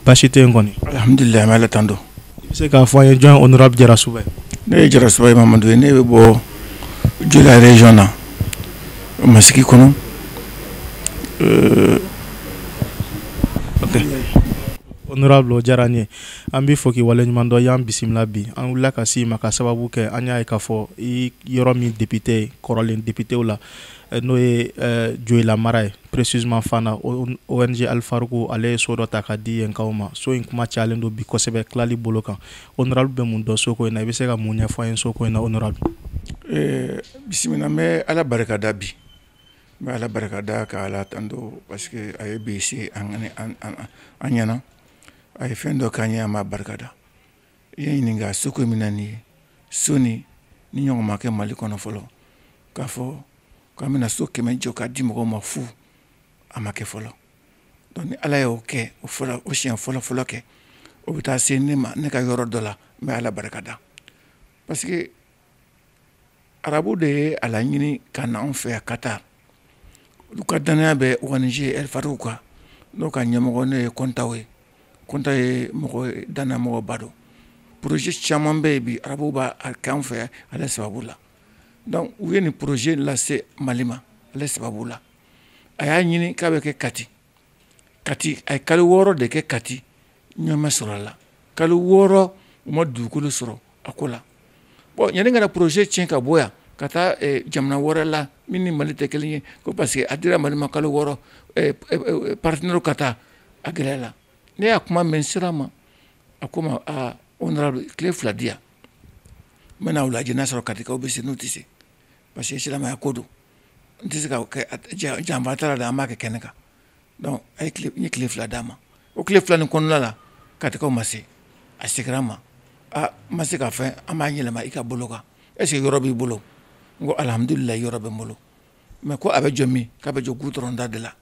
baasi tɛ yen kɔni. alihamudulila an bɛ ala tando. i bɛ se k'a fɔ an ye jɔn honorable jarasuba ye. ne ye jarasuba ye mamadu ye ne bɛ bɔ joyila region na masigi kɔnɔ. Euh, okay. honorable o diyara an ye an b'i fo k'i waleɲuman dɔn i y'an bisimila bi an wulila ka s'i ma ka sababu kɛ an y'a ye k'a fɔ i yɔrɔ min depite kɔrɔlen depitew la eh, n'o ye eh, joyila mara ye Precisement fana ONG Alfaruku ale ye so dɔ ta ka di yenkaw ma. So in kuma cayalen don bi kosɛbɛ tilali bolo kan. Honorable bɛ mun dɔn so ko in na? I bɛ se ka mun ɲɛfɔ an ye so ko in na honorable? Ee bisimila n bɛ Ala barika da bi. N bɛ Ala barika da ka Ala tando parce que a ye bi se an ɲɛna. A ye fɛn dɔ k'an ye an b'a barika da. i ye ɲininka so ko min na nin ye so nin nin ɲɔgɔn ma kɛ mali kɔnɔ fɔlɔ k'a fɔ k'an bɛna so kɛmɛ jɔ k'a di mɔgɔw ma fu a ma kɛ fɔlɔ donc ni ala y'o kɛ o fɔlɔ o siɲɛ fɔlɔ fɔlɔ kɛ o bɛ taa se ne ma ne ka yɔrɔ dɔ la n bɛ ala barika da parce que arabu de ye a laɲini ka na anw fɛ yan ka taa olu ka dannaya bɛ ONG Alfaruku kan n'o ka ɲɛmɔgɔ ne ye kɔntaw ye kɔntaw ye mɔgɔ dannaya mɔgɔba don poroze caman bɛ yen bi arabu b'a kɛ anw fɛ ale sababu la donc u ye nin poroze lase mali ma ale sababu la a y'a ɲini k'a bɛ kɛ kati kati a ye kalo wɔɔrɔ de kɛ kati ɲɛ ma sɔrɔ a la kalo wɔɔrɔ u ma dugukolo sɔrɔ a ko la bon yanni ka na poroze tiɲɛ ka bɔ yan ka taa eh, jamana wɛrɛ la min ni mali tɛ kelen ye ko parce que a dira mali ma kalo wɔɔrɔ eh, eh, partenaire ka taa a gɛlɛya la ne y'a kuma mɛn sira ma a ko n ma aa honorable tile fila di yan n bɛna u lajɛ n'a sɔrɔ katikaw bɛ se n'u tɛ se parce que silamɛya ko don n tɛ se ka janfa t'a la an b'a kɛ kɛnɛ kan a ye tile fila d'a ma o tile fila ni kɔnɔna la katikaw ma se a seginna n ma aa ma se ka fɛn an b'a yɛlɛma i ka bolo kan est-ce que yɔrɔ b'i bolo n ko alihamudulila yɔrɔ bɛ n bolo mɛ ko a bɛ jɔ min k'a bɛ jɔ gudɔrɔnda de la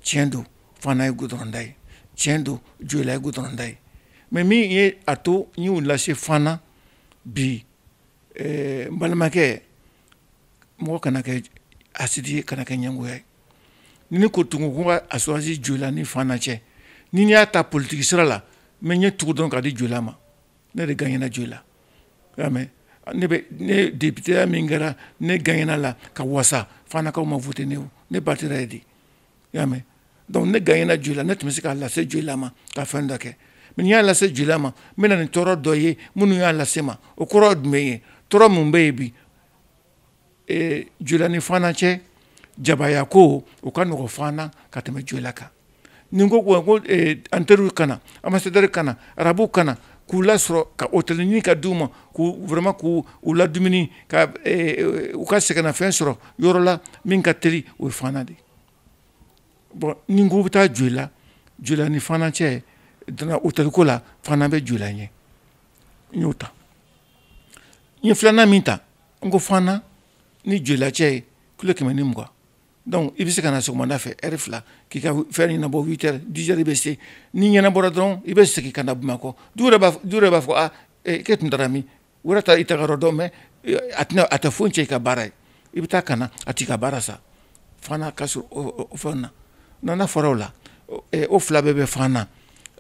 tiɲɛ don fana ye gudɔrɔnda ye tiɲɛ don joyila ye gudɔrɔnda ye mɛ min ye a to n y'u lase fana bi n balimakɛ mɔgɔ kana kɛ hasidi ye kana kɛ ɲɛngoya ye ni ne tun ko ka a choisir joyila ni fana cɛ n'i y'a ta politiki sira la n bɛ n ɲɛ tugu dɔrɔn k'a di joyila ma ne de gagnera joyila y'a mɛn ne bɛ ne depiteya min kɛra ne gagnera la ka wasa fanakaw ma vote ne o ne batira yen de y'a mɛn dɔnku ne ganyela joyila ne tun bɛ se k'a lase joyila ma ka fɛn dɔ kɛ min y'a lase joyila ma n bɛna nin tɔɔrɔ dɔ ye minnu y'a lase ma o kɔrɔ tun bɛ ye tɔɔrɔ minnu bɛ yen bi joyila ni fana cɛ jabaaya ko u ka nɔgɔ fana ka tɛmɛ joyila kan ni n ko ko an teriuru ka na ambassadeur ka na arabu ka na k'u lasɔrɔ ka otɛli ɲini ka d' u ma k'uoroma k' u la dumuni u ka sɛgɛnfɛn sɔrɔ yɔrɔ la min ka teli o ye fana de ye bɔn n'i ko i bɛ taa joyila joyila ni fana cɛ donna otɛliko la fana bɛ joyila ɲɛ n y'o ta n ye filanan min ta n ko fana ni joyila cɛ ye kilo kɛmɛ ni mugan donc i bɛ se ka na sɔgɔmada fɛ ɛri fila k'i ka fɛn ɲɛnabɔ huit heures dix heures i bɛ se n'a ɲɛnabɔra dɔrɔn i bɛ segin ka na bamakɔ dɔ yɛrɛ b'a fɔ dɔ yɛrɛ b'a fɔ a e tun taara min O yɛrɛ t'i taga yɔrɔ dɔn mais a tɛ foyi cɛn i ka baara ye i bɛ taa ka na a t'i ka baara sa fana ka fɛn na nana fɔra o la o fila bɛɛ bɛ fana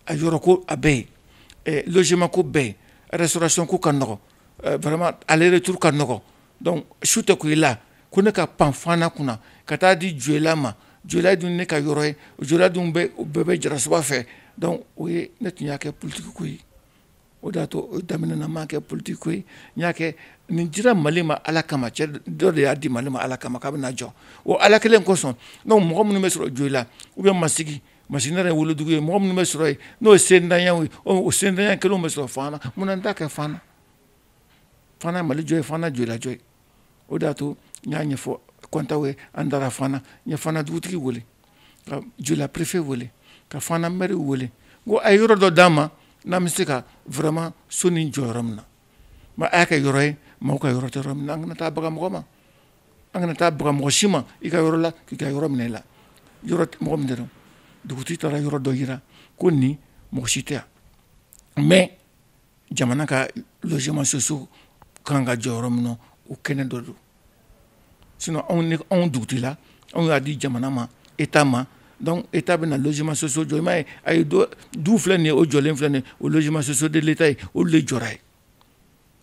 a yɔrɔ ko a bɛ yen logement ko bɛ yen restauration ko ka nɔgɔ vraiment aller-retour ka nɔgɔ su tɛ ko i la ko ne ka pan fana kunna ka taa di joyila ma joyila dun ne ka yɔrɔ ye joyila dun bɛɛ bɛ jarasuba fɛ o ye ne tun y'a kɛ politiki ko ye o de y'a to o daminɛ na n m'a kɛ politique ko ye n y'a kɛ nin dira Mali ma Ala kama cɛ dɔ de y'a di Mali ma Ala kama k'a bɛna jɔ o Ala kelen kosɔn donc mɔgɔ minnu bɛ sɔrɔ Joyila ou bien masigi masigi ne yɛrɛ wolodugu ye mɔgɔ minnu bɛ sɔrɔ yen n'o ye sentanyaw ye o sentanya kelenw bɛ sɔrɔ Fana munna n t'a kɛ Fana Fana ye Mali jɔ ye Fana ye Joyila jɔ ye o de y'a to n y'a ɲɛfɔ kɔntaw ye an taara fana n ye fana dugutigi wele ka joyila perefe wele ka fana mɛri wele ko a ye yɔrɔ dɔ d'an ma n'an bɛ se ka vraiment so nin jɔ yɔrɔ min na mais a y'a kɛ yɔrɔ ye mɔgɔw ka yɔrɔ yɔrɔ min an kana taa baga mɔgɔ ma an kana taa baga mɔgɔ si ma i ka yɔrɔ la k'i ka yɔrɔ minɛ i la yɔrɔ mɔgɔ min dɔrɔn dugutigi taara yɔrɔ dɔ jira ko nin mɔgɔ si tɛ yan mɛ jamana ka logement sociaux kan ka jɔ yɔrɔ min na o kɛnɛ dɔ don sinon anw ne anw dugutila anw y'a di jamana ma état ma donc état bɛna logement sociaux jɔ i m'a ye a ye dɔ du filɛ nin ye o jɔlen filɛ nin ye o logement sociaux de l'état ye olu de jɔra yen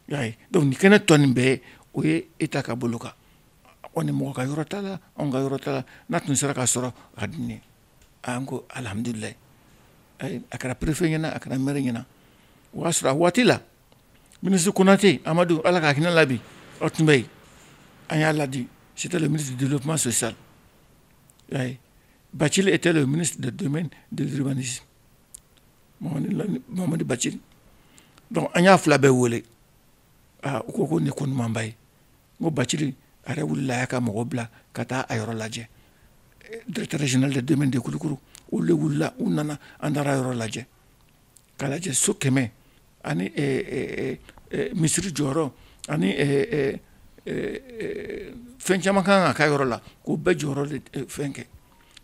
i y'a ye donc nin kɛnɛ tɔ nin bɛɛ o ye état ka bolo kan kɔni mɔgɔ ka yɔrɔ t'a la anw ka yɔrɔ t'a la n'a tun sera ka sɔrɔ a ka di ne ye an ko alihamdulilahi a kɛra perefe ɲɛna a kɛra mɛri ɲɛna o y'a sɔrɔ a waati la ministre konate amadu ala ka hinɛ a la bi a tun bɛ yen an y'a ladi c'était le ministre de développement social bacili était le ministre de domaine de l'urbanisme mamadi bacili dɔnku an y'a fila bɛɛ wele aa u ko ko nin ko ɲumanba ye n ko bacili a yɛrɛ wulila a y'a ka mɔgɔ bila ka taa a yɔrɔ lajɛ directeur régional de domaine de kulukɔrɔ olu de wulila u nana an taara yɔrɔ lajɛ ka lajɛ so kɛmɛ ani eh, eh, eh, misiri jɔyɔrɔ ani fɛn caman ka kan ka k'a yɔrɔ la k'o bɛɛ jɔyɔrɔ de fɛn kɛ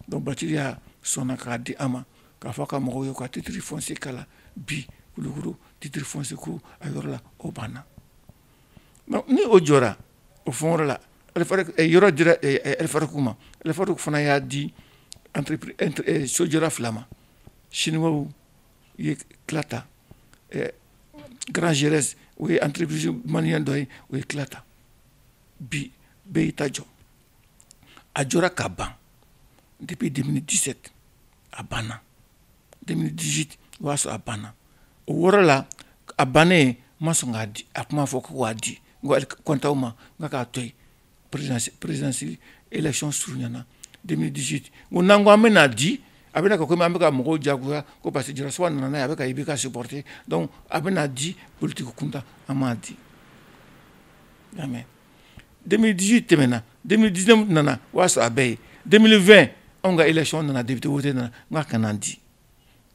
donc bacili a sɔnna k'a di an ma k'a fɔ a ka mɔgɔw ye ka titre foncier kala bi kulukɔrɔ titre foncier ko a yɔrɔ la o banna ni o jɔra o fɔ yɔrɔ la yɔrɔ dira fariku ma fari fana y'a di sojɔra fila ma sini u ye kita garanranzɛrɛ u ye anpiripsi mali dɔ ye u ye kita bi bɛɛ y'i ta jɔ a jɔ ka ban dibi di tɛse a banna 2018 o y'a sɔrɔ a banna o yɔrɔ la a bannen n ma sɔn k'a di a kuma fɔ ko k'a di Kontao ma n ko k'a to yen présidence élection surunyana 2018 n ko n'an ko an bɛn'a di a bɛna kɛ komi an bɛ ka mɔgɔw jagoya ko parce que jarasuba nana n'a ye a bɛ ka IBK supporter donc a bɛna di politique kunta an m'a di y'a mɛn 2018 tɛmɛna 2019 nana o y'a sɔrɔ a bɛ yen 2020 anw ka élection nana député wote nana n k'a kana di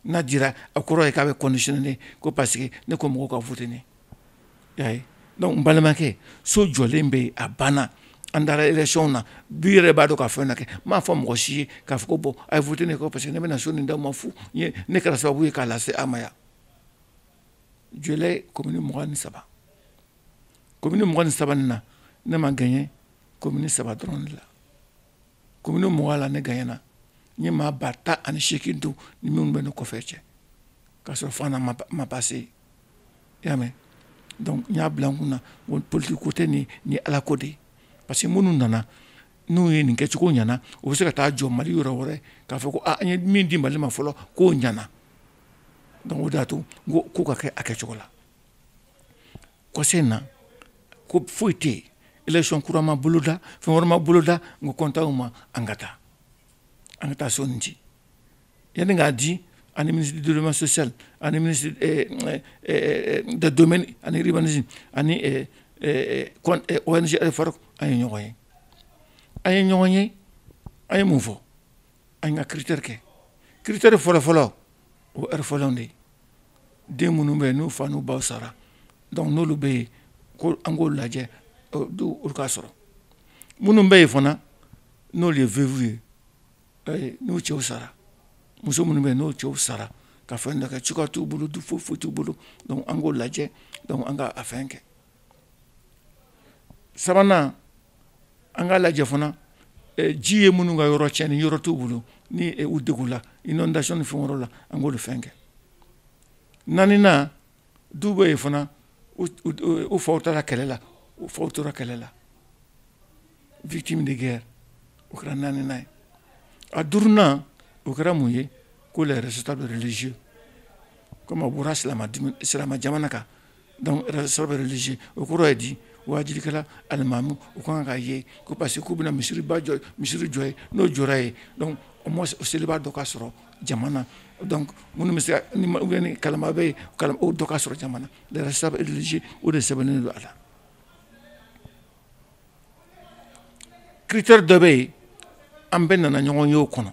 n'a dira a kɔrɔ ye k'a bɛ kɔnsen ko parce que ne ko mɔgɔw ka voter n balimakɛ so jɔlen bɛ yen a banna an taara élection na du yɛrɛ b'a dɔn ka fɛn na kɛ m'a fɔ mɔgɔ si ye k'a fɔ ko bon a ye voter ne ye parce que ne bɛna na so nin d'aw ma fo ne kɛra sababu ye k'a lase se a maya joli commune mugan ni saba commune mugan ni saba nin na ne ma gaɲe commune saba dɔrɔn de la commune mugan la ne gaɲena n ye maa ba tan ani seegin don n ni minnu bɛ ne kɔfɛ cɛ k'a sɔrɔ fana n ma pase i y'a mɛn donc n y'a bila n kun na ko politiki ko tɛ nin ye ala ko de ye parce que minnu nana n'u ye nin kɛcogo ɲɛna u bɛ se ka taa jɔ mali yɔrɔ wɛrɛ k'a fɔ ko a an ye min di mali ma fɔlɔ k'o ɲɛna donc o de y'a to n ko ko ka kɛ a kɛcogo la kɔsɛbɛ na ko foyi tɛ yen election kura ma boloda fɛn wɛrɛ ma boloda n ko Kontao ma an ka taa an ka taa so nin di yanni an k'a di an ni ministre du développement social ani ministre eh, eh, eh, de domaine ani urbanisme ani ONG Al Farouk an ye ɲɔgɔn ye an ye ɲɔgɔn ye an ye mun fɔ an ka critère kɛ critère fɔlɔfɔlɔ orphelinw de ye den minnu bɛ yen n'u fa n'u baw sara donc n'olu bɛ yen ko an k'olu lajɛ du olu ka sɔrɔ minnu bɛ yen fana n'olu ye veuve ye eh, n'u cɛw sara muso minnu bɛ yen n'u cɛw sara ka fɛn dɔ kɛ cogoya t'u bolo du foyi foyi t'u bolo donc an k'o lajɛ donc an ka a fɛn kɛ sabanan an k'a lajɛ fana eh, ji ye minnu ka yɔrɔ tiɲɛ ni yɔrɔ t'u bolo ni eh, u degunna inondation ni fɛn la an k'olu fɛn kɛ naaninan du bɛ yen fana u faw taara kɛlɛ la u faw tora kɛlɛ la victime de guerre o kɛra naaninan ye a duurunan o kɛra mun ye ko les responsables religieux comme a bɔra silamɛ jamana kan Donc responsable religieux o kɔrɔ ye di waajulikɛla alimamu u ka kan k'a ye ko parce que k'u bɛna misiriba jɔ misiri jɔ yen n'o jɔra yen donc au moins o selibaa dɔ ka sɔrɔ jama na donc minnu bɛ se ka ni ou bien ni kalama bɛ yen kalama o dɔ ka sɔrɔ jama na les responsables religieux o de sɛbɛnnen don a la critère dɔ bɛ yen an bɛɛ nana ɲɔgɔn ye o kɔnɔ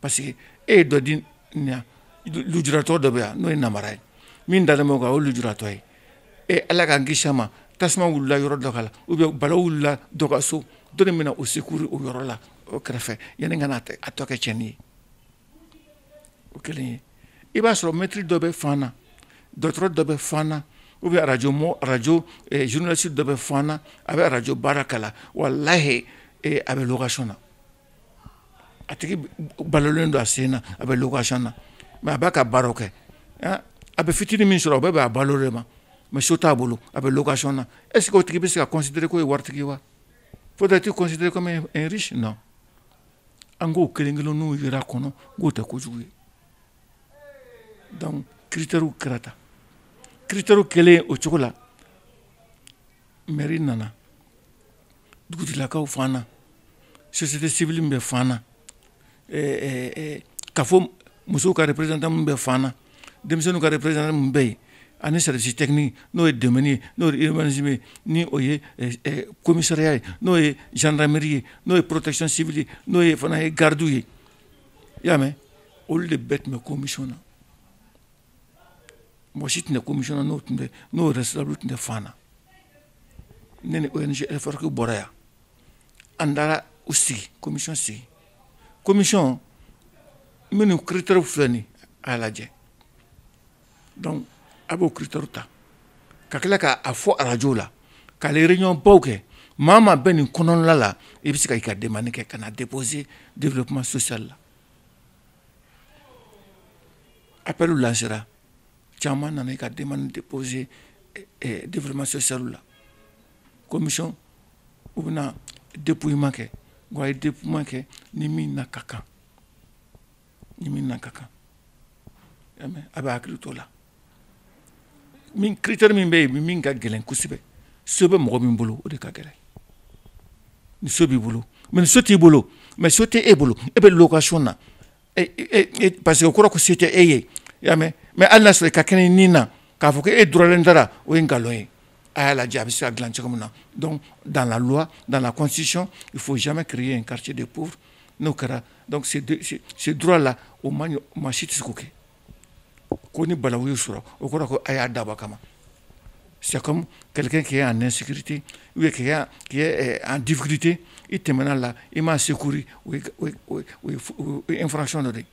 parce que e ye dɔ di nin lujuratɔ dɔ bɛ yan n'o ye nabara ye min dalen bɛ o kan o ye lujuratɔ ye e ala k'an kisi a ma tasuma wulila yɔrɔ dɔ ka la ou bien balawu wulila dɔ ka so dɔ de bɛna o secours o yɔrɔ la o kɛrɛfɛ yanni ka na a tɔ kɛ tiɲɛni ye o kelen ye i b'a sɔrɔ mɛtiri dɔ bɛ fan na dɔgɔtɔrɔ dɔ bɛ fan na ou bien arajo mɔ arajo eh, journaliste dɔ bɛ fan na a bɛ arajo baara kɛ la walahi eh, a bɛ location na a tigi balolen don a sen na a bɛ location na mais a b'a ka baaraw kɛ a bɛ fitinin min sɔrɔ o bɛɛ b'a balo de ma mais so t'a bolo a bɛ location na est ce que o tigi bɛ se ka considérer k'o ye waritigi ye wa faut être considéré comme un riche non an k'o kelen kelenninw yira kɔnɔ k'o tɛ kojugu ye donc critères kɛra tan critères kɛlen o cogo la mairie nana dugutigilakaw fan na société civile min bɛ fan na ka fɔ musow ka représentant min bɛ fan na denmisɛnninw ka représentant min bɛ yen ani service technique n'o ye domaine ye n'o ye urbanisme ye ni o ye commissariat ye n'o ye gendarmerie ye n'o ye protection civile ye n'o ye fana ye garde ye i y'a mɛn olu de bɛɛ tun bɛ commission na mɔgɔ si tun tɛ komi n'o tun tɛ n'o yɛrɛ sababu tun tɛ fan na ne ni ofarin bɔra yan an taara u sigi komi sigi komi minnu kiterw filɛ nin a lajɛ dɔnku a b'o kiter ta ka tila k'a fɔ arajo la k'ale yɛrɛreɲɔgɔn baw kɛ maa maa bɛ nin kɔnɔnla la i bɛ se ka' ka den kɛ ka na depzse de kuma sososali la A bɛ lasera caman nana i ka den ni tɛ pɔose denma se sa la komi u bɛna depma kɛ wa a ye de kɛ ni min na ka kan ni min na ka kan a bɛ hakili to la min critère min bɛ yen min ka gɛlɛn kosɛbɛ so bɛ mɔgɔ min bolo o de ka gɛlɛn ni so b'i bolo mais so t'i bolo mais so tɛ e bolo e bɛ location na e, e, e, parce que o kɔrɔ ko se tɛ e ye i y'a mɛn mais hali n'a sɔrɔ i ka kɛnɛ ni na k'a fɔ ko e dɔrɔnlen dara o ye nkalon ye a y'a lajɛ a bɛ se ka dilan cogo min na donc dans la loi dans la constitution il faut jamais créer un quartier de pauvres n'o kɛra donc ce droit là o man ɲi maa si tɛ se k'o kɛ ko ni balawu y'u sɔrɔ o kɔrɔ ko a y'a dabɔ kama c'est comme quelqu'un qui est en insécurité ou qui est, qui est euh, en difficulté i tɛmɛna a la i m'a secourir o ye o ye infraction dɔ de ye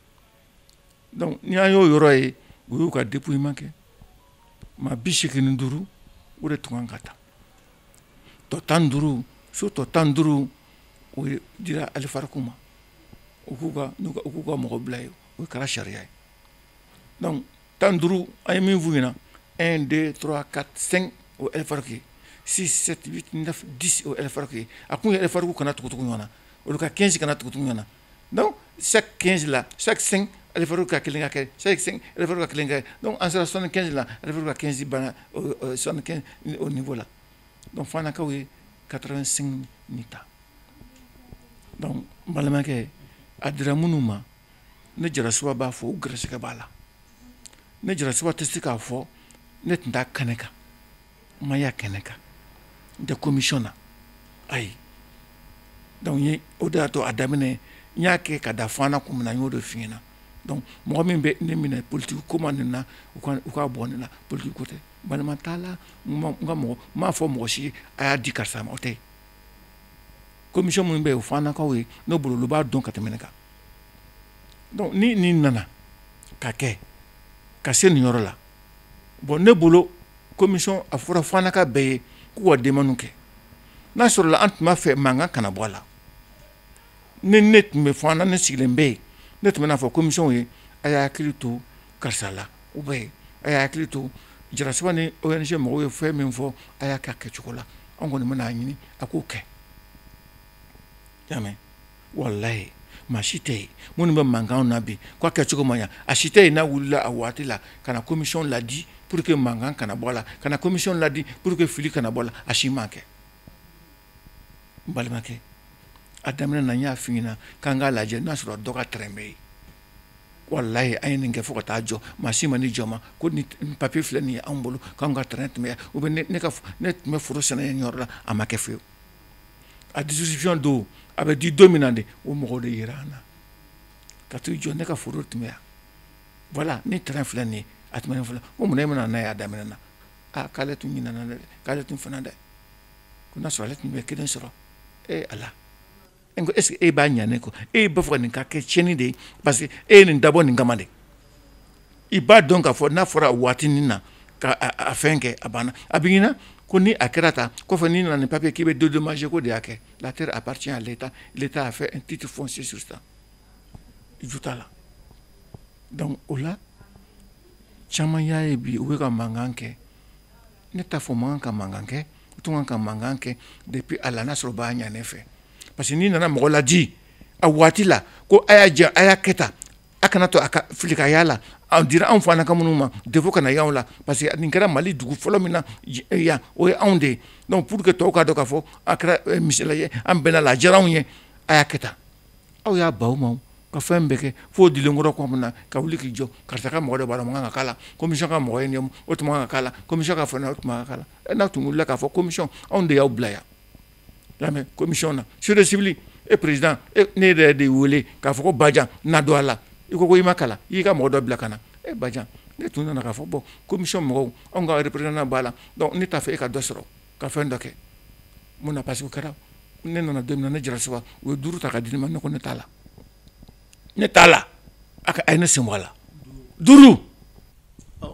donc ni an y'o yɔrɔ ye u y'u ka dépouillement kɛ maa bi seegin ni duuru o de tun kan ka taa tɔ tan ni duuru so tɔ tan ni duuru o de dira alifariku ma u k'u ka u k'u ka mɔgɔ bila yen o kɛra sariya ye dɔnku tan ni duuru a ye min f'u ɲɛna un deux trois quatre cinq alifariku six sept huit neuf dix alifariku a kun ye alifariku kana tugu ɲɔgɔn na olu ka kɛnsi kana tugu ɲɔgɔn na sa kɛnsi la sa alifariku ka kelen ka kɛ sa ka kelen kɛ an sera sɔnni kɛnsi la ali ka kɛnsi banna nin ko la dɔnku fanakaw ye quatre-vingt-cinq nin ta balimakɛ a dira minnu ma ne jarasuba b'a fɔ u garisɛgɛ b'a la ne jarasuba tɛ se k'a fɔ ne tun t'a kɛnɛ kan n ma y'a kɛnɛ kan n tɛ komisiyɔn na ayi donc ye o de y'a to a daminɛ n y'a kɛ ka da fana kun min na n y'o de f'i ɲɛna donc mɔgɔ min bɛ ne minɛ politiki ko ma nin na u ka u ka bɔ ne la politiki ko tɛ balima t'a la n ka mɔgɔ n m'a fɔ mɔgɔ si a y'a di karisa ma o tɛ komisiyɔn minnu bɛ yen o fanakaw ye ne bolo olu b'a dɔn ka tɛmɛn ne kan dɔnku ni nin nana ka kɛ ka se nin yɔrɔ la bɔn ne bolo komisiyɔn a fɔra fanaka bɛɛ ye k'u ka demande kɛ n'a sɔrɔla an tun b'a fɛ mankan kana bɔ a la ni ne tun bɛ fana ne sigilen bɛ yen ne tun bɛna a fɔ komisiyɔnw ye a y'a hakili to karisa la u bɛ yen a y'a hakili to jarasuba ni ONG mɔgɔw ye fɛn min fɔ a y'a kɛ a kɛcogo la an kɔni bɛna a ɲini a k'o kɛ y'a walayi maa si tɛ yen minnu bɛ mankan na bi k'a kɛcogo ma ɲa a si tɛ yen n'a wulila a waati la ka na komisiyɔn laadi pour que mankan kana bɔ a la ka komisiyɔn laadi pour que fili kana bɔ a la a si m'a kɛ balimakɛ a daminɛ na n y'a fɔ k'an k'a lajɛ n'a sɔrɔ dɔ ka tɛrɛn bɛ yen walayi a ye nin kɛ fo ka taa jɔ maa si ma ni jɔ ma ko ni papier filɛ nin ye anw bolo k'an ka tɛmɛ tun bɛ foro sɛnɛ ye yɔrɔ la a ma kɛ fewu a dususiy don a bɛ di don min na de o mɔgɔ de jira an na ka to jɔ ne ka foro tɛmɛya wala ni t filɛ nin ye a tɛm fila ko mun e bɛna na' a daminɛ na aa k'ale tun ɲin dɛ k'ale tun fana dɛ ko na sɔrɔ ale tun bɛ kelen sɔrɔ ee ala E ko est-ce que e b'a ɲɛ ne kɔ e b'a fɛ ka nin ka kɛ tiɲɛni de ye parce que e ye nin dabɔ nin kama de i b'a dɔn k'a fɔ n'a fɔra waati nin na ka a fɛn kɛ a banna a b'i ɲɛna ko ni a kɛra tan kɔfɛ n'i nana ni papier k'i bɛ dédommager k'o de y'a kɛ la terre appartient à l'Etat l'Etat a fait un titre foncier sur ça ju t'a la donc o la caman y'a ye bi u bɛ ka mankan kɛ ne t'a fɔ maa ka mankan kɛ tun ka mankan kɛ depuis a la n'a sɔrɔ b'a ɲɛ ne fɛ parce que n'i nana mɔgɔ laadi a waati la ko a y'a jɛ a y'a kɛ ta a kana to a ka filika yyaa la a dira anw fana commune ma défaut kana y'aw la parce que nin kɛra mali dugu fɔlɔ min na yan o ye anw de ye donc pour que tɔw k'a dɔn k'a fɔ a kɛra misila ye an bɛnna a la a diyara anw ye a y'a kɛ taa aw y'a baw ma ka fɛn bɛɛ kɛ fo dilenkɔrɔ kɔ min na ka wuli k'i jɔ karisa ka mɔgɔ bara man ka la komi ka mɔgɔ in ɲɛ o tuma ka la komi ka fɔ o tuma la e n'a tun wulila k'a fɔ komi anw de y'aw bila yan lamɛn komi na société civile président ne yɛrɛ de weele k'a fɔ ko ba na don a la i ko i ma kalan i ka mɔgɔ dɔ bila ka na e ba ne tun nana k'a fɔ bɔ komi mɔgɔw anw ka yɛrɛ président b'a la ne t'a fɛ e ka dɔ sɔrɔ ka fɛn dɔ kɛ mun na parce que kɛra ne nana don min na ne jara suba u ye duuru ta ka di ne ma ne ko ne t'a la ne t'a la a ka a ye ne sen bɔ a la duuru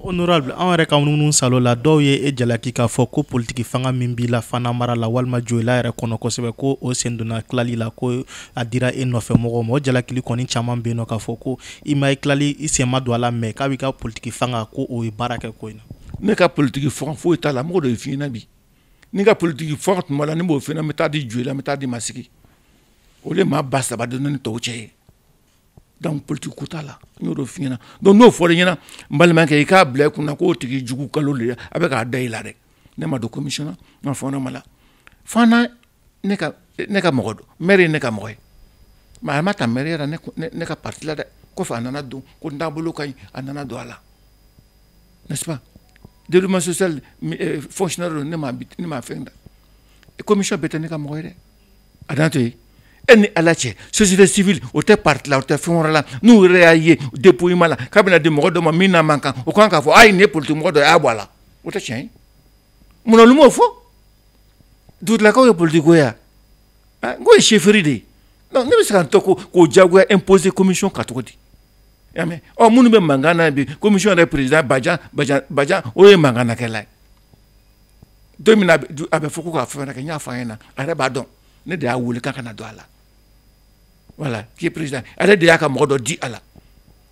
honorable an yɛrɛ ka munumunu salo la dɔw ye e jalaki k'a fɔ ko politiki fanga min b'i la fana mara la walima joyila yɛrɛ kɔnɔ kosɛbɛ ko o sen donna tilali la ko a dira e nɔfɛ mɔgɔ ma o jalakili kɔni caman bɛ yen nɔ k'a fɔ ko i ma i tilali i sen ma don a la mɛ k'a b'i ka politiki fanga ko o ye baara kɛ ko in na ne ka politiki fanga foyi t'a la mɔgɔ dɔ y'a f'i ɲɛna bi ni n ka politiki fanga tun b'a la ne b'o fɛnɛ n bɛ taa di joyila n bɛ taa di masigi o de maa ba saba donna ni tɔw cɛ ye donc politiki ko t'a la n y'o dɔ f'i ɲɛna donc n'o fɔra i ɲɛna n balimakɛ i k'a bila i kunna k'o tigi jugu nkalon de a bɛ k'a da i la dɛ ne ma don commission na n ma fɔ ne ma la fana ne ka ne ka mɔgɔ don mɛri ye ne ka mɔgɔ ye mɛ a ma ta mɛri yɛrɛ ne ka parti la dɛ kɔfɛ a nana don ko n taabolo ka ɲi a nana don a la n'est-ce pas développement social euh, fonctionnaire don ne ma ne ma fɛn da commission bɛɛ tɛ ne ka mɔgɔ ye dɛ a dan to yen e ni ala cɛ société civile o tɛ parti la o tɛ fɛn wɛrɛ la n'u yɛrɛ y'a ye dépouillement la k'a bɛna di mɔgɔ dɔ ma min n'a man kan o kan k'a fɔ a ye nin ye politique mɔgɔ dɔ ye a y'a bɔ a la o tɛ tiɲɛ ye munna olu m'o fɔ dugutigilakaw ye politikiko ye yan ah, n k'o ye chefferie de ye donc ne bɛ se ka n tɔgɔ diyagoya imposer commission kan cogo di y'a mɛn ɔ minnu bɛ mankan na bi commission yɛrɛ président bajan bajan bajan o ye mankan na kɛla ye don min na a bɛ fɔ ko k'a fɛn wɛrɛ kɛ n y'a fɔ a ɲɛna a yɛrɛ b'a dɔn ne de y'a wele k'a ka na don a la voilà k'i ye président a yɛrɛ de y'a ka mɔgɔ dɔ di a la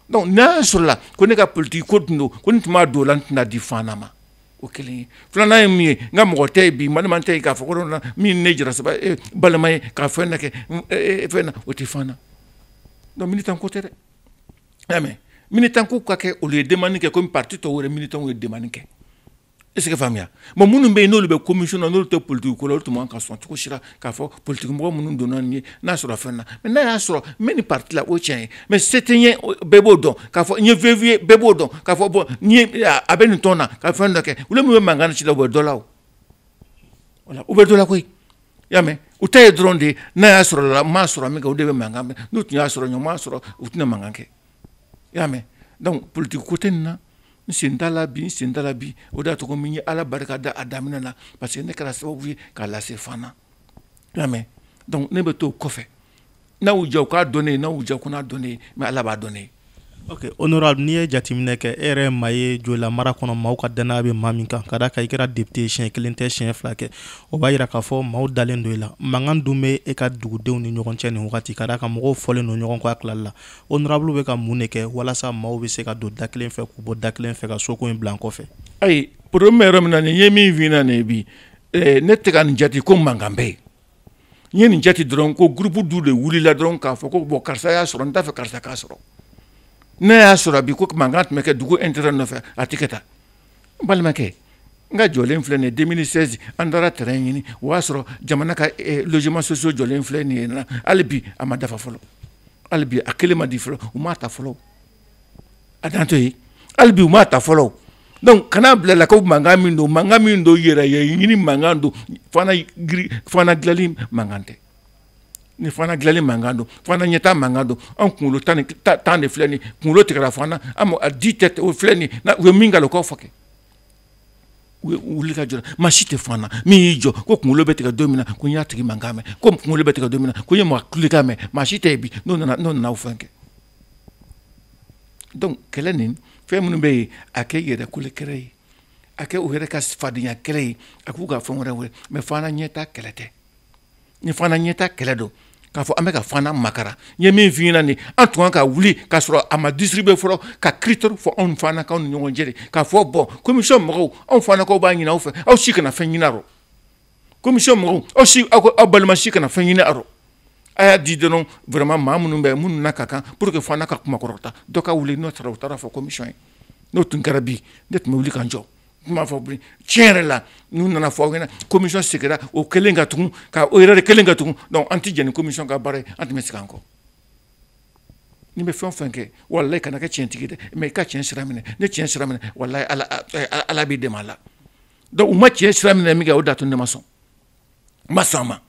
donc n'a sɔrɔla ko ne ka politiki ko tun don ko ne tun b'a don o la n tɛn'a di fana ma o kelen ye filanan ye min ye n ka mɔgɔ tɛ ye bi balima tɛ k'a fɔ ko na min ne jara saba eh, balima ye k'a fɛn na kɛ mm, eh, eh, fɛn na o tɛ fana donc militan ko tɛ dɛ y'a mɛn militan ko ka kɛ olu ye demande kɛ komi parti tɔw yɛrɛ militanw ye demande kɛ est ce que faamuya bon minnu bɛ yen n'olu bɛ commission na n'olu tɛ politiki ko la olu tun man ka sɔn cogo si la k'a fɔ politikimɔgɔ minnu donna nin ye n'a sɔrɔ fɛn na mɛ n'a y'a sɔrɔ n bɛ nin pariti la o tiɲɛ ye maa si tɛ yen bɛɛ b'o dɔn k'a fɔ n ye vv ye bɛɛ b'o dɔn k'a fɔ bɔn a bɛ nin tɔn na ka fɛn dɔ kɛ olu min bɛ mankan ci la u bɛ dɔ la o u bɛ dɔ la koyi y'a mɛn u ta ye dɔrɔn de ye n'a y'a sɔrɔ la m'a sɔrɔ min kɛ o de bɛ mankan mɛn n'u tun y'a sɔrɔ ɲɔgɔn m'a sɔrɔ u tɛna mankan kɛ i y'a mɛn donc politique ko tɛ nin na n sen t'a la bi n sen t'a la bi o de y'a to ko min ye ala barika da a daminɛ na parce que ne kɛra sababu ye k'a lase fana i y'a mɛn donc ne bɛ to kɔfɛ n'aw diya u k'a dɔn ne ye n'aw diya u kan'a dɔn ne ye mais ala b'a dɔn ne ye ok honorable n'i ye jateminɛ kɛ e yɛrɛ maa ye joyila mara kɔnɔ maaw ka dannaya bɛ maa min kan ka da a kan i kɛra depite siɲɛ kelen tɛ siɲɛ fila kɛ o b'a yira k'a fɔ maaw dalen don i la mankan dun bɛ e ka dugudenw ni ɲɔgɔn cɛ nin wagati ka da a kan mɔgɔw fɔlen don ɲɔgɔn kɔ a tilali la honorable bɛ ka mun de kɛ walasa maaw bɛ se ka don da kelen fɛ k'u bɔ da kelen fɛ ka so ko in bila kɔfɛ ayi problème yɔrɔ min na nin ye min fna nin bi eh, ne tɛ ka nin jate ko mankan bɛ yen n ye nin jate dɔrɔn ko groupe dɔ de wulila dɔrɔn k'a fɔ ko bɔn karisa y'a sɔrɔ n t'a fɛ karisa k'a sɔrɔ n'i y'a sɔrɔ bi ko mankan tun bɛ kɛ dugu intérêt nɔfɛ a tɛ kɛ tan n balimakɛ n ka jɔlen filɛ nin ye 2016 an taara terrain ɲini o y'a sɔrɔ jamana ka eh, logement sociaux jɔlen filɛ nin ye na hali bi a ma dafa fɔlɔ hali bi a kelen ma di fɔlɔ u m'a ta fɔlɔ a dan to yen hali bi u m'a ta fɔlɔ donc kana bila la ko mankan min don mankan min don yɛrɛyeɲini mankan don fana giri fana dilanli mankan tɛ ni fana dilanli mankan don fana ɲɛtaa mankan don an kunkolo tan tan de filɛ nin kunkolo tigɛra fana yan a di tɛ o filɛ nin na u ye min k'a la o k'a fɔ kɛ u ye wuli ka jɔ maa si tɛ fana min y'i jɔ ko kunkolo bɛ tigɛ don min na ko n y'a tigi mankan mɛn ko kunkolo bɛ tigɛ don min na ko n ye maa kulekan mɛn maa si tɛ yen bi n'o nana n'o nana o fɛn kɛ donc kɛlɛ nin fɛn minnu bɛ yen a kɛ yɛrɛ kolekɛrɛ ye a kɛ u yɛrɛ ka fadenya kɛlɛ ye a k'u ka fɛn wɛrɛ wele mɛ fana ɲɛtaa kɛlɛ tɛ ni fana ɲɛtaa kɛlɛ don k'a fɔ an bɛ ka fana makaran n ye min f'i ɲɛna nin an tun kan ka wuli k'a sɔrɔ a ma distribuer fɔlɔ ka kiritɛri fɔ anw fanakaw ni ɲɔgɔn cɛ de k'a fɔ bɔn komisiyɔn mɔgɔw anw fanakaw b'a ɲini aw fɛ aw si kana fɛn ɲini a rɔ komisiyɔn mɔgɔw aw si aw aw balima si kana fɛn ɲini a rɔ a y'a di dɔrɔn vraiment maa minnu bɛ minnu na ka kan pour que fana ka kunkɔrɔta dɔ ka wuli n'o taara u taara fɔ komisiyɔn ye n'o tun kɛra bi ne tun bɛ wuli ka jɔ tun b'a fɔ tiɲɛ yɛrɛ la n'u nana fɔ aw ɲɛna komisiyɔn sigira o kelen ka tugun k' o yɛrɛ de kelen ka tugun dɔnku an tɛ jɛn ni komisiyɔn ka baara ye an tun bɛ sigi an kɔ ni bɛ fɛn fɛn kɛ wala i kana kɛ tiɲɛtigi dɛ mɛ i ka tiɲɛ sira minɛ n'i ye tiɲɛ sira minɛ walahi ala b'i dɛmɛ a la Dɔnku u ma cɛn sira minɛ min kɛ o d'a to ne ma sɔn ma sɔn a ma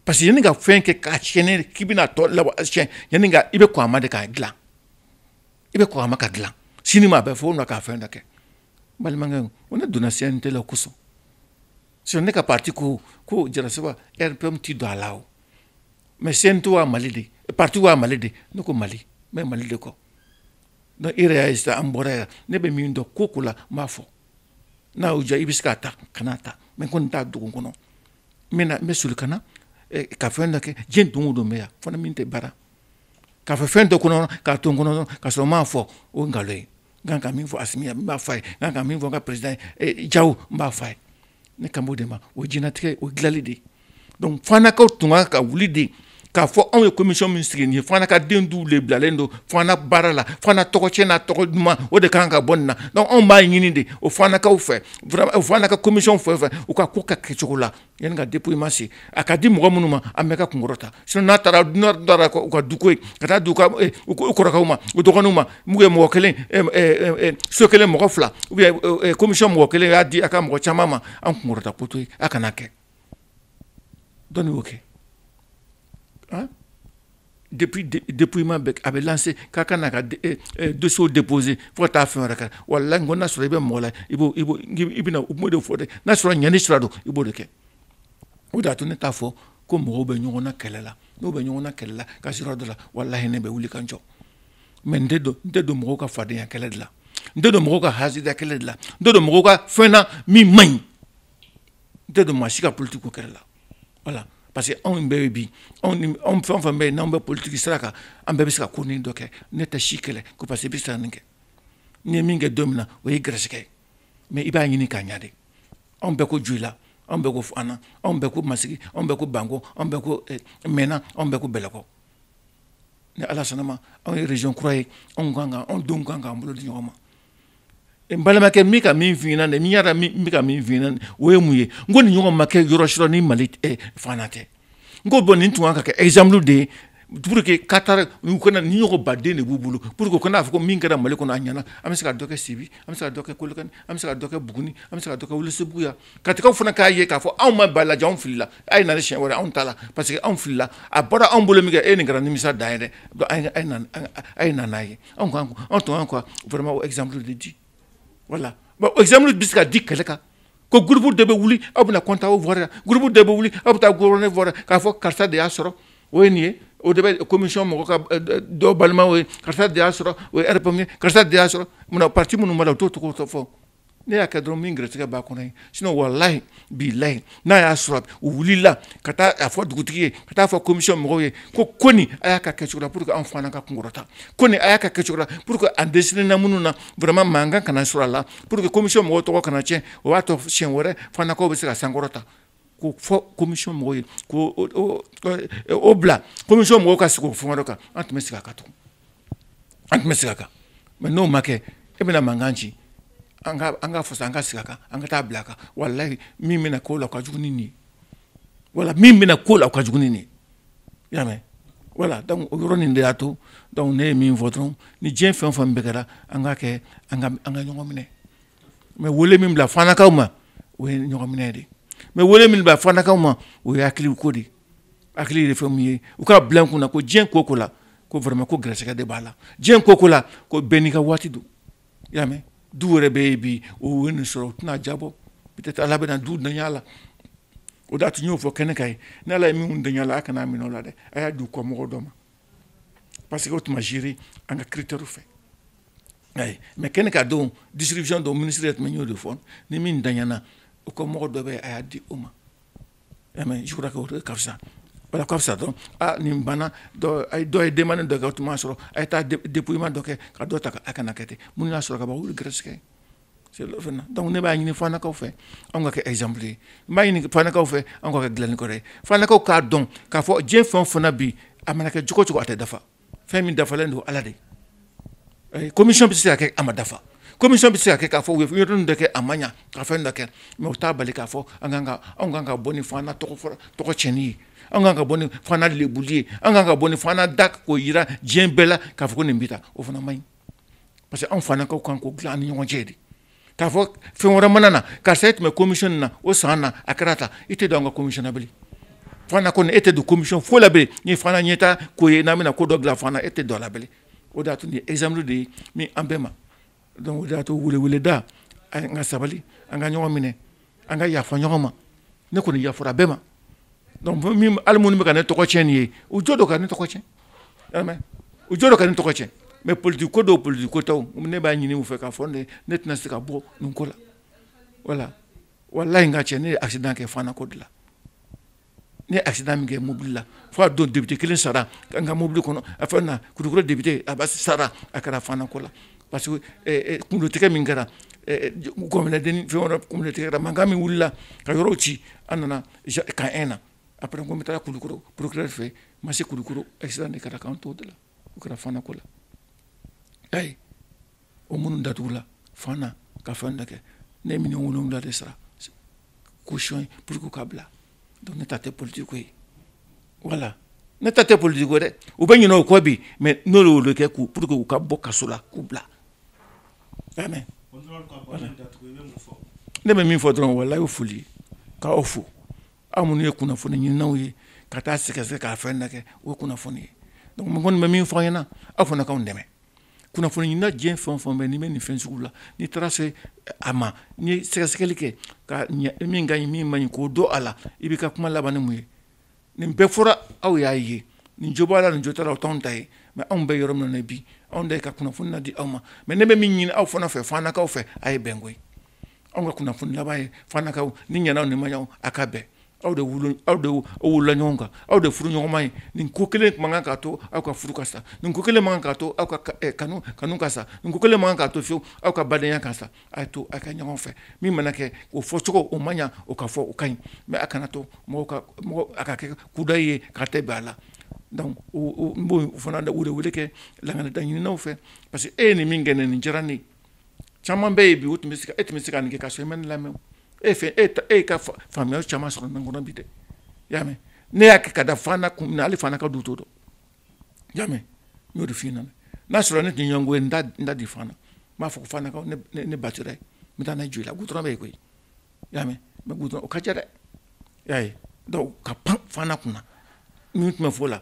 parce que yanni ka fɛn kɛ k'a tiɲɛn k'i bɛna tɔ la yan i bɛ a ma de k'a dila i bɛ a ma ka dila sini ma a bɛ fɔ' k'a fɛn da kɛ balimakɛ o ne donna se tɛ kosɔn si ne ka pati ko ko jara saba p tɛ don a la o mɛ sen to a mali de pati a mali de ne ko mali n bɛ mali de kɔ e yɛrɛ y'a sisan an bɔra yan ne bɛ min dɔn ko ko la n b'a fɔ n'a y'o diya i bɛ se k'a ta kana a ta mɛ ko nin t'a dugu kɔnɔ n bɛna n bɛ soli ka na eh, ka fɛn dɔ kɛ diɲɛ don o don bɛ yan fo ni min tɛ baara k'a fɔ fɛn dɔ kɔnɔ k'a to n kɔnɔ ka sɔrɔ n m'a fɔ o ye nkalon ye n kan ka min fɔ asimi ye n b'a fɔ a ye n kan ka min fɔ n ka perezidan ye eh, jaw n b'a fɔ a ye ne kan b'o de ma o ye diɲɛnatigɛ o ye dilali de ye dɔnku fanakaw tun kan ka wuli de k'a fɔ anw ye komisiyɔn min sigi nin ye fana ka den du de bilalen don fana baara la fana tɔgɔ cɛn n'a tɔgɔ duman o de kan ka bɔ nin na dɔnku anw b'a ɲini de o fanakaw fɛ fana ka komisiyɔn fɛ fɛ u ka ko ka kɛcogo la yan ka di i ma se a ka di mɔgɔ minnu ma an bɛ ka kunkɔrɔta s n'a taara dunan da u ka du ye ka taa u kɔrɔkɛw ma u dɔgɔninw ma ye mɔgɔ kelen so kelen mɔgɔ fila u komisiyɔn mɔgɔ kelen y'a di a ka mɔgɔ caman ma an kunkɔrɔta ko tɛ a kana kɛ dɔnku n'i y'o kɛ han depuis depuis ma bɛ a bɛ lancer k'a ka na ka eh, eh, dossier déposer fo ka taa fɛn wɛrɛ kɛ walahi n ko n'a sɔrɔ i bɛ mɔgɔ la i b'o i b'o i bɛna u b'o de fɔ dɛ n'a sɔrɔ ɲɛni sira don i b'o de kɛ o de y'a to ne t'a fɔ ko mɔgɔw bɛ ɲɔgɔn na kɛlɛ la n'u bɛ ɲɔgɔn na kɛlɛ la ka sira dɔ la walahi ne bɛ wuli ka n jɔ mɛ n tɛ don n tɛ don mɔgɔw ka fadenya kɛlɛ de la n tɛ don mɔgɔw ka hasida kɛlɛ de la n tɛ don mɔgɔw ka fɛn na min man ɲi n tɛ don maa si ka politiki ko kɛlɛ la walahi parce que anw bɛɛ bɛ bi anw fɛn fɛn bɛ yen n'anw bɛ politiki sira kan an bɛɛ bɛ se ka ko ni dɔ kɛ ne tɛ si kɛlɛ ko parce que i bɛ se ka nin kɛ n'i ye min kɛ don min na o ye garisigɛ ye mɛ i b'a ɲini k'a ɲa de anw bɛɛ ko joyila anw bɛɛ ko fana anw bɛɛ ko masigi anw bɛɛ ko banko anw bɛɛ ko eh, mɛna anw bɛɛ ko bɛlɛkɔ ni ala sɔnna a ma anw ye region kura ye anw kan kan anw de kan k'an bolo di ɲɔgɔn ma balimakɛ min ka min fna n y'a ka min fina o ye mun ye n ko nin ɲɔgɔn ma kɛ yɔrɔ sɔrɔ ni mali fana tɛ n ko bɔn nin tun ka kɛ exemple de ye duuru kɛ ka taara u kana ni ɲɔgɔn baden de b'u bolo pour que ka n'a fɔ min kɛra mali kɔnɔ a ɲɛna an bɛ se ka dɔ kɛ sibi an bɛ se kɛ kɔlɔkani an bɛ se ka kɛ buguni an bɛ se ka kɛ wɛlɛsebugu katikaw fana k'a ye k'a fɔ anw ma ba la anw fili a ye na siɲɛ wɛrɛ anw ta la parce que anw filila a bɔra anw bolo min kɛ e nin kɛra nimisa da yɛrɛ a ye nana' ye anw kan anw tun kan vraiment o exemple de di voilà bon o exemple bɛ se ka di kɛlɛ kan ko groupe de bɛ wuli aw bɛna kɔntan o fɔra groupe de bɛ wuli aw bɛ taa g ne fɔra k'a fɔ karisa de y'a sɔrɔ o ye nin ye o de bɛ commission mɔgɔ ka dɔ balima ye karisa de y'a sɔrɔ o ye yɛrɛ ye karisa de y'a sɔrɔ munna pati minnu' o to tɔgɔ fɔ ne y'a kɛ dɔrɔn min gɛrɛsɛgɛ b'a kɔnɔ ye sinon walahi bilahi n'a y'a sɔrɔ u wulila ka taa a fɔ dugutigi ye ka taa fɔ commission mɔgɔw ye ko ko nin a y'a k'a kɛcogo la pour que anw fana ka kunkɔrɔta ko nin a y'a k'a kɛcogo la pour que a dɛsɛlen na minnu na vraiment mankan kana sɔrɔ a la pour que commission mɔgɔw tɔgɔ kana tiɲɛ o b'a to siɲɛ wɛrɛ fanakaw bɛ se ka sankɔrɔta k'o fɔ commission mɔgɔw ye ko o bila commission mɔgɔw ka sigi o fɛngɛ dɔ kan an tun bɛ sigi a kan tugun an tun bɛ sigi a kan mais n'o ma kɛ e bɛna mankan ci an ka an ka fasa an ka sigi a kan an ka taa bila a kan walahi min bɛna kɔ la ka jugu ni nin wala min bɛna kɔ la ka jugu ni nin y'a mɛn voilà donc o yɔrɔ nin de y'a to donc ne ye min fɔ dɔrɔn ni diɲɛ fɛn o fɛn bɛɛ kɛra an ka kɛ an ka an ka ɲɔgɔn minɛ n bɛ wele min bila fanakaw ma o ye ɲɔgɔn minɛ de n bɛ wele min bila fanakaw ma o ye hakiliw ko de hakili de fɛn mun ye u k'a bila u kun na ko diɲɛ ko ko la ko vraiment ko gɛrɛsɛgɛ de b'a la diɲɛ ko ko la ko bɛɛ n'i ka waati don i y'a mɛn dɔw wɛrɛ bɛ yen bi o ye nin sɔrɔ u tɛn'a diyabɔ peut-être ala bɛna dɔw danya la o de a tun y'o fɔ kɛnɛ kan yen ni ala ye minnu danya la a kana minɛ o la dɛ a y'a di u kɔ mɔgɔ dɔ ma parce que o tun ma géré an ka critère fɛ ayi mais kɛnɛ kan don distribution don ministre yɛrɛ tun bɛ n y'o de fɔ ni min danyana o kɔ mɔgɔ dɔ bɛ a y'a di o ma karisa fisa dɔn nin banna dɔ ye demande dɔ kɛ tun m'a sɔrɔ a ye taa dépouillement dɔ kɛ ka dɔ ta a kana kɛ ten minnu y'a sɔrɔ ka bɔ olu garisɛgɛ donc ne b'a ɲini fanakaw fɛ an ka kɛ exemple ye n b'a ɲini fanakaw fɛ an ka kɛ dilannikɛla ye fanakaw k'a dɔn k'a fɔ diɲɛ fɛn fana bi a mana kɛ cogo o cogo a tɛ dafa fɛn min dafalen don ala de eh, commission bɛ se ka kɛ a ma dafa commission bɛ se ka kɛ k'a fɔ u ye yɔrɔ ninnu dɔ kɛ a ma ɲa ka fɛn dɔ kɛ mais o t'a bali k'a fɔ an kan ka anw kan ka bɔ ni fana tɔgɔ fɔlɔ tɔgɔ cɛnni ye an kan ka bɔ ni fana lebuli ye an kan ka bɔ ni fana da k'o yira diɲɛ bɛɛ la k'a fɔ ko nin bɛ tan o fana man ɲi parce que anw fana ka kan k'o dilan an ni ɲɔgɔn cɛ de k'a fɔ fɛn wɛrɛ mana na karisa e tun bɛ commission na o san na a kɛra tan i tɛ don an ka commission na bilen Fana kɔni e tɛ don commission foyi la bilen ni Fana ɲɛtaa ko ye n'an bɛna ko dɔ bila Fana e tɛ don a la bilen o de y'a to nin ye exemple de ye min an bɛɛ ma donc o de y'a to weleweleda an ka sabali an ka ɲɔgɔn minɛ an ka yafa ɲɔgɔn ma ne kɔni yafara bɛɛ ma hali minnu bɛ ka ne tɔgɔ cɛn nin ye u jo don ka ne tɔgɔ cɛn u jo don ka ne tɔgɔ cɛn mɛ politiki ko don politiki ko tɛ ne b'a ɲini u fɛ k'a fɔ ne tɛna se ka bɔ nin ko la wala walayi n ka cɛ ne ye accident kɛ Fana ko de la N ye accident min kɛ mobili la fo a don député 1 sara n ka mobili kɔnɔ a fɛn na Kulukɔrɔ député Aba sara a kɛra Fana ko la parce que ɛ ɛ kungolo tigɛ min kɛra ɛ gɔnbɛlɛdennin fɛn wɛrɛ kungolo tigɛra mankan min wulila ka yɔrɔw ci an nana camp 1 na après n ko n bɛ taa Kulukɔrɔ procureur fɛ yen n ma se Kulukɔrɔ accident de kɛra k'an t'o de la o kɛra Fana ko la ayi o minnu datugula fana ka fɛn dɔ kɛ ne ye miliyɔn wolonwula de sara caution ye pour que u ka bila donc ne ta tɛ politiki ko ye wala ne ta tɛ politiki ko dɛ u bɛ ɲinɛ o kɔ bi mais ne de y'olu kɛ k'u pour que u ka bɔ kaso la k'u bila a mɛn ne bɛ min fɔ dɔrɔn walayi o foli ye k'aw fo aw minnu ye kunnafoni ɲininaw ye ka taa sɛgɛsɛ k'a fɛn na kɛ o kunnafoni ye donc mɔgɔ kɔni bɛ min fɔ aw ɲɛna aw fana k'anw dɛmɛ kunnafoni ɲinina diɲɛ fɛn o fɛn bɛ n'i bɛ nin fɛn sugu la n'i taara se a ma n'i ye sɛgɛsɛgɛli kɛ ka ɲɛ min ka ɲi min man ɲi k'o dɔn a la i b'i ka kuma laban ni mun ye nin bɛɛ fɔra aw y'a ye nin jo b'a la nin jo t'a la o t'anw ta ye mɛ anw bɛ yɔrɔ min na bi anw da ye ka kunnafoni na di aw ma mɛ ne bɛ min ɲini aw fana fɛ Fanakaw fɛ a ye bɛn koyi Anw ka kunnafoni laban ye Fanakaw ni ɲw ni ma aw ka bɛn aw de aw de wolola ɲɔgɔn kan aw de furuɲɔgɔnma ye nin ko kelen man kan k'a to aw ka furu ka sa nin ko kelen man kan k'a to aw ka kanu kanu ka sa nin ko kelen man kan k'a to fewu aw ka badenya ka sa a to aw ka ɲɔgɔn fɛ min mana kɛ o fɔ cogo o man o ka fɔ o ka ɲi mɛ a kana to a ka kɛ kudayi ka tɛ bɛ a la n b'o fana de welewele kɛ lakanadaɲininaw fɛ parce que e ye nin min kɛ nin nin diyara nin caman bɛ yen bi o tun bɛ se e tun bɛ se ka nin kɛ ka so i ma ne lamɛn e fɛ e e ka faamuya caman sɔrɔ n kɔnɔ bi dɛ y'a mɛn ne y'a kɛ ka da Fana kun na ale fana ka du to dɔn y'a mɛn n y'o de f'i ɲɛna n'a sɔrɔ ne tun ɲɛngo ye n da di Fana n b'a fɔ ko Fana ne batara ye n bɛ taa ne Joyila gudɔrɔn bɛ yen koyi y'a mɛn mɛ gudɔrɔn o ka ca dɛ y'a ye dɔw ka pan Fana kunna min tun bɛ fɔ la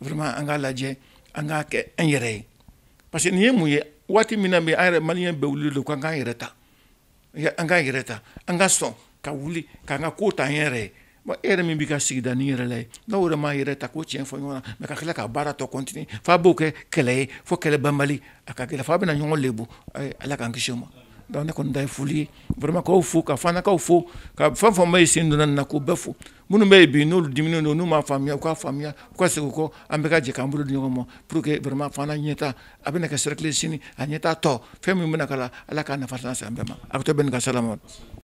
vraiment an k'a lajɛ an k'a kɛ an yɛrɛ ye parce que nin ye mun ye waati min na bi an yɛrɛ maliyɛn bɛɛ wulilen don k'an k'an yɛrɛ ta an k'an yɛrɛ ta an ka sɔn ka wuli k'an ka ko ta an yɛrɛ ye bon e yɛrɛ min b'i ka sigida nin yɛrɛ la yen n'aw yɛrɛ m'aw yɛrɛ ta ka tiɲɛ fɔ ɲɔgɔn lamɛn ka tila ka baara tɔ kɔntini f'a b'o kɛ kɛlɛ ye fo kɛlɛ banbali a ka gɛlɛn f'aw bɛna ɲɔgɔn lebu ala k'an kisi o ma donc ne kɔni ta ye foli ye vraiment k'aw fo ka fanakaw fo ka fɛn fɛn maa ye sen donna nin na k'o bɛɛ fo minnu bɛ yen bi n'olu diminen don n'u m'a faamuya u k'a faamuya u ka segin u kɔ an bɛɛ ka jɛ k'an bolo di ɲɔgɔn ma pour que vraiment fana ɲɛtaa a bɛna kɛ cercle sini a ɲɛtaa tɔ fɛn min bɛna k'a la Ala k'a nafa lase an bɛɛ ma aw bɛ to bɛɛ ni ka sala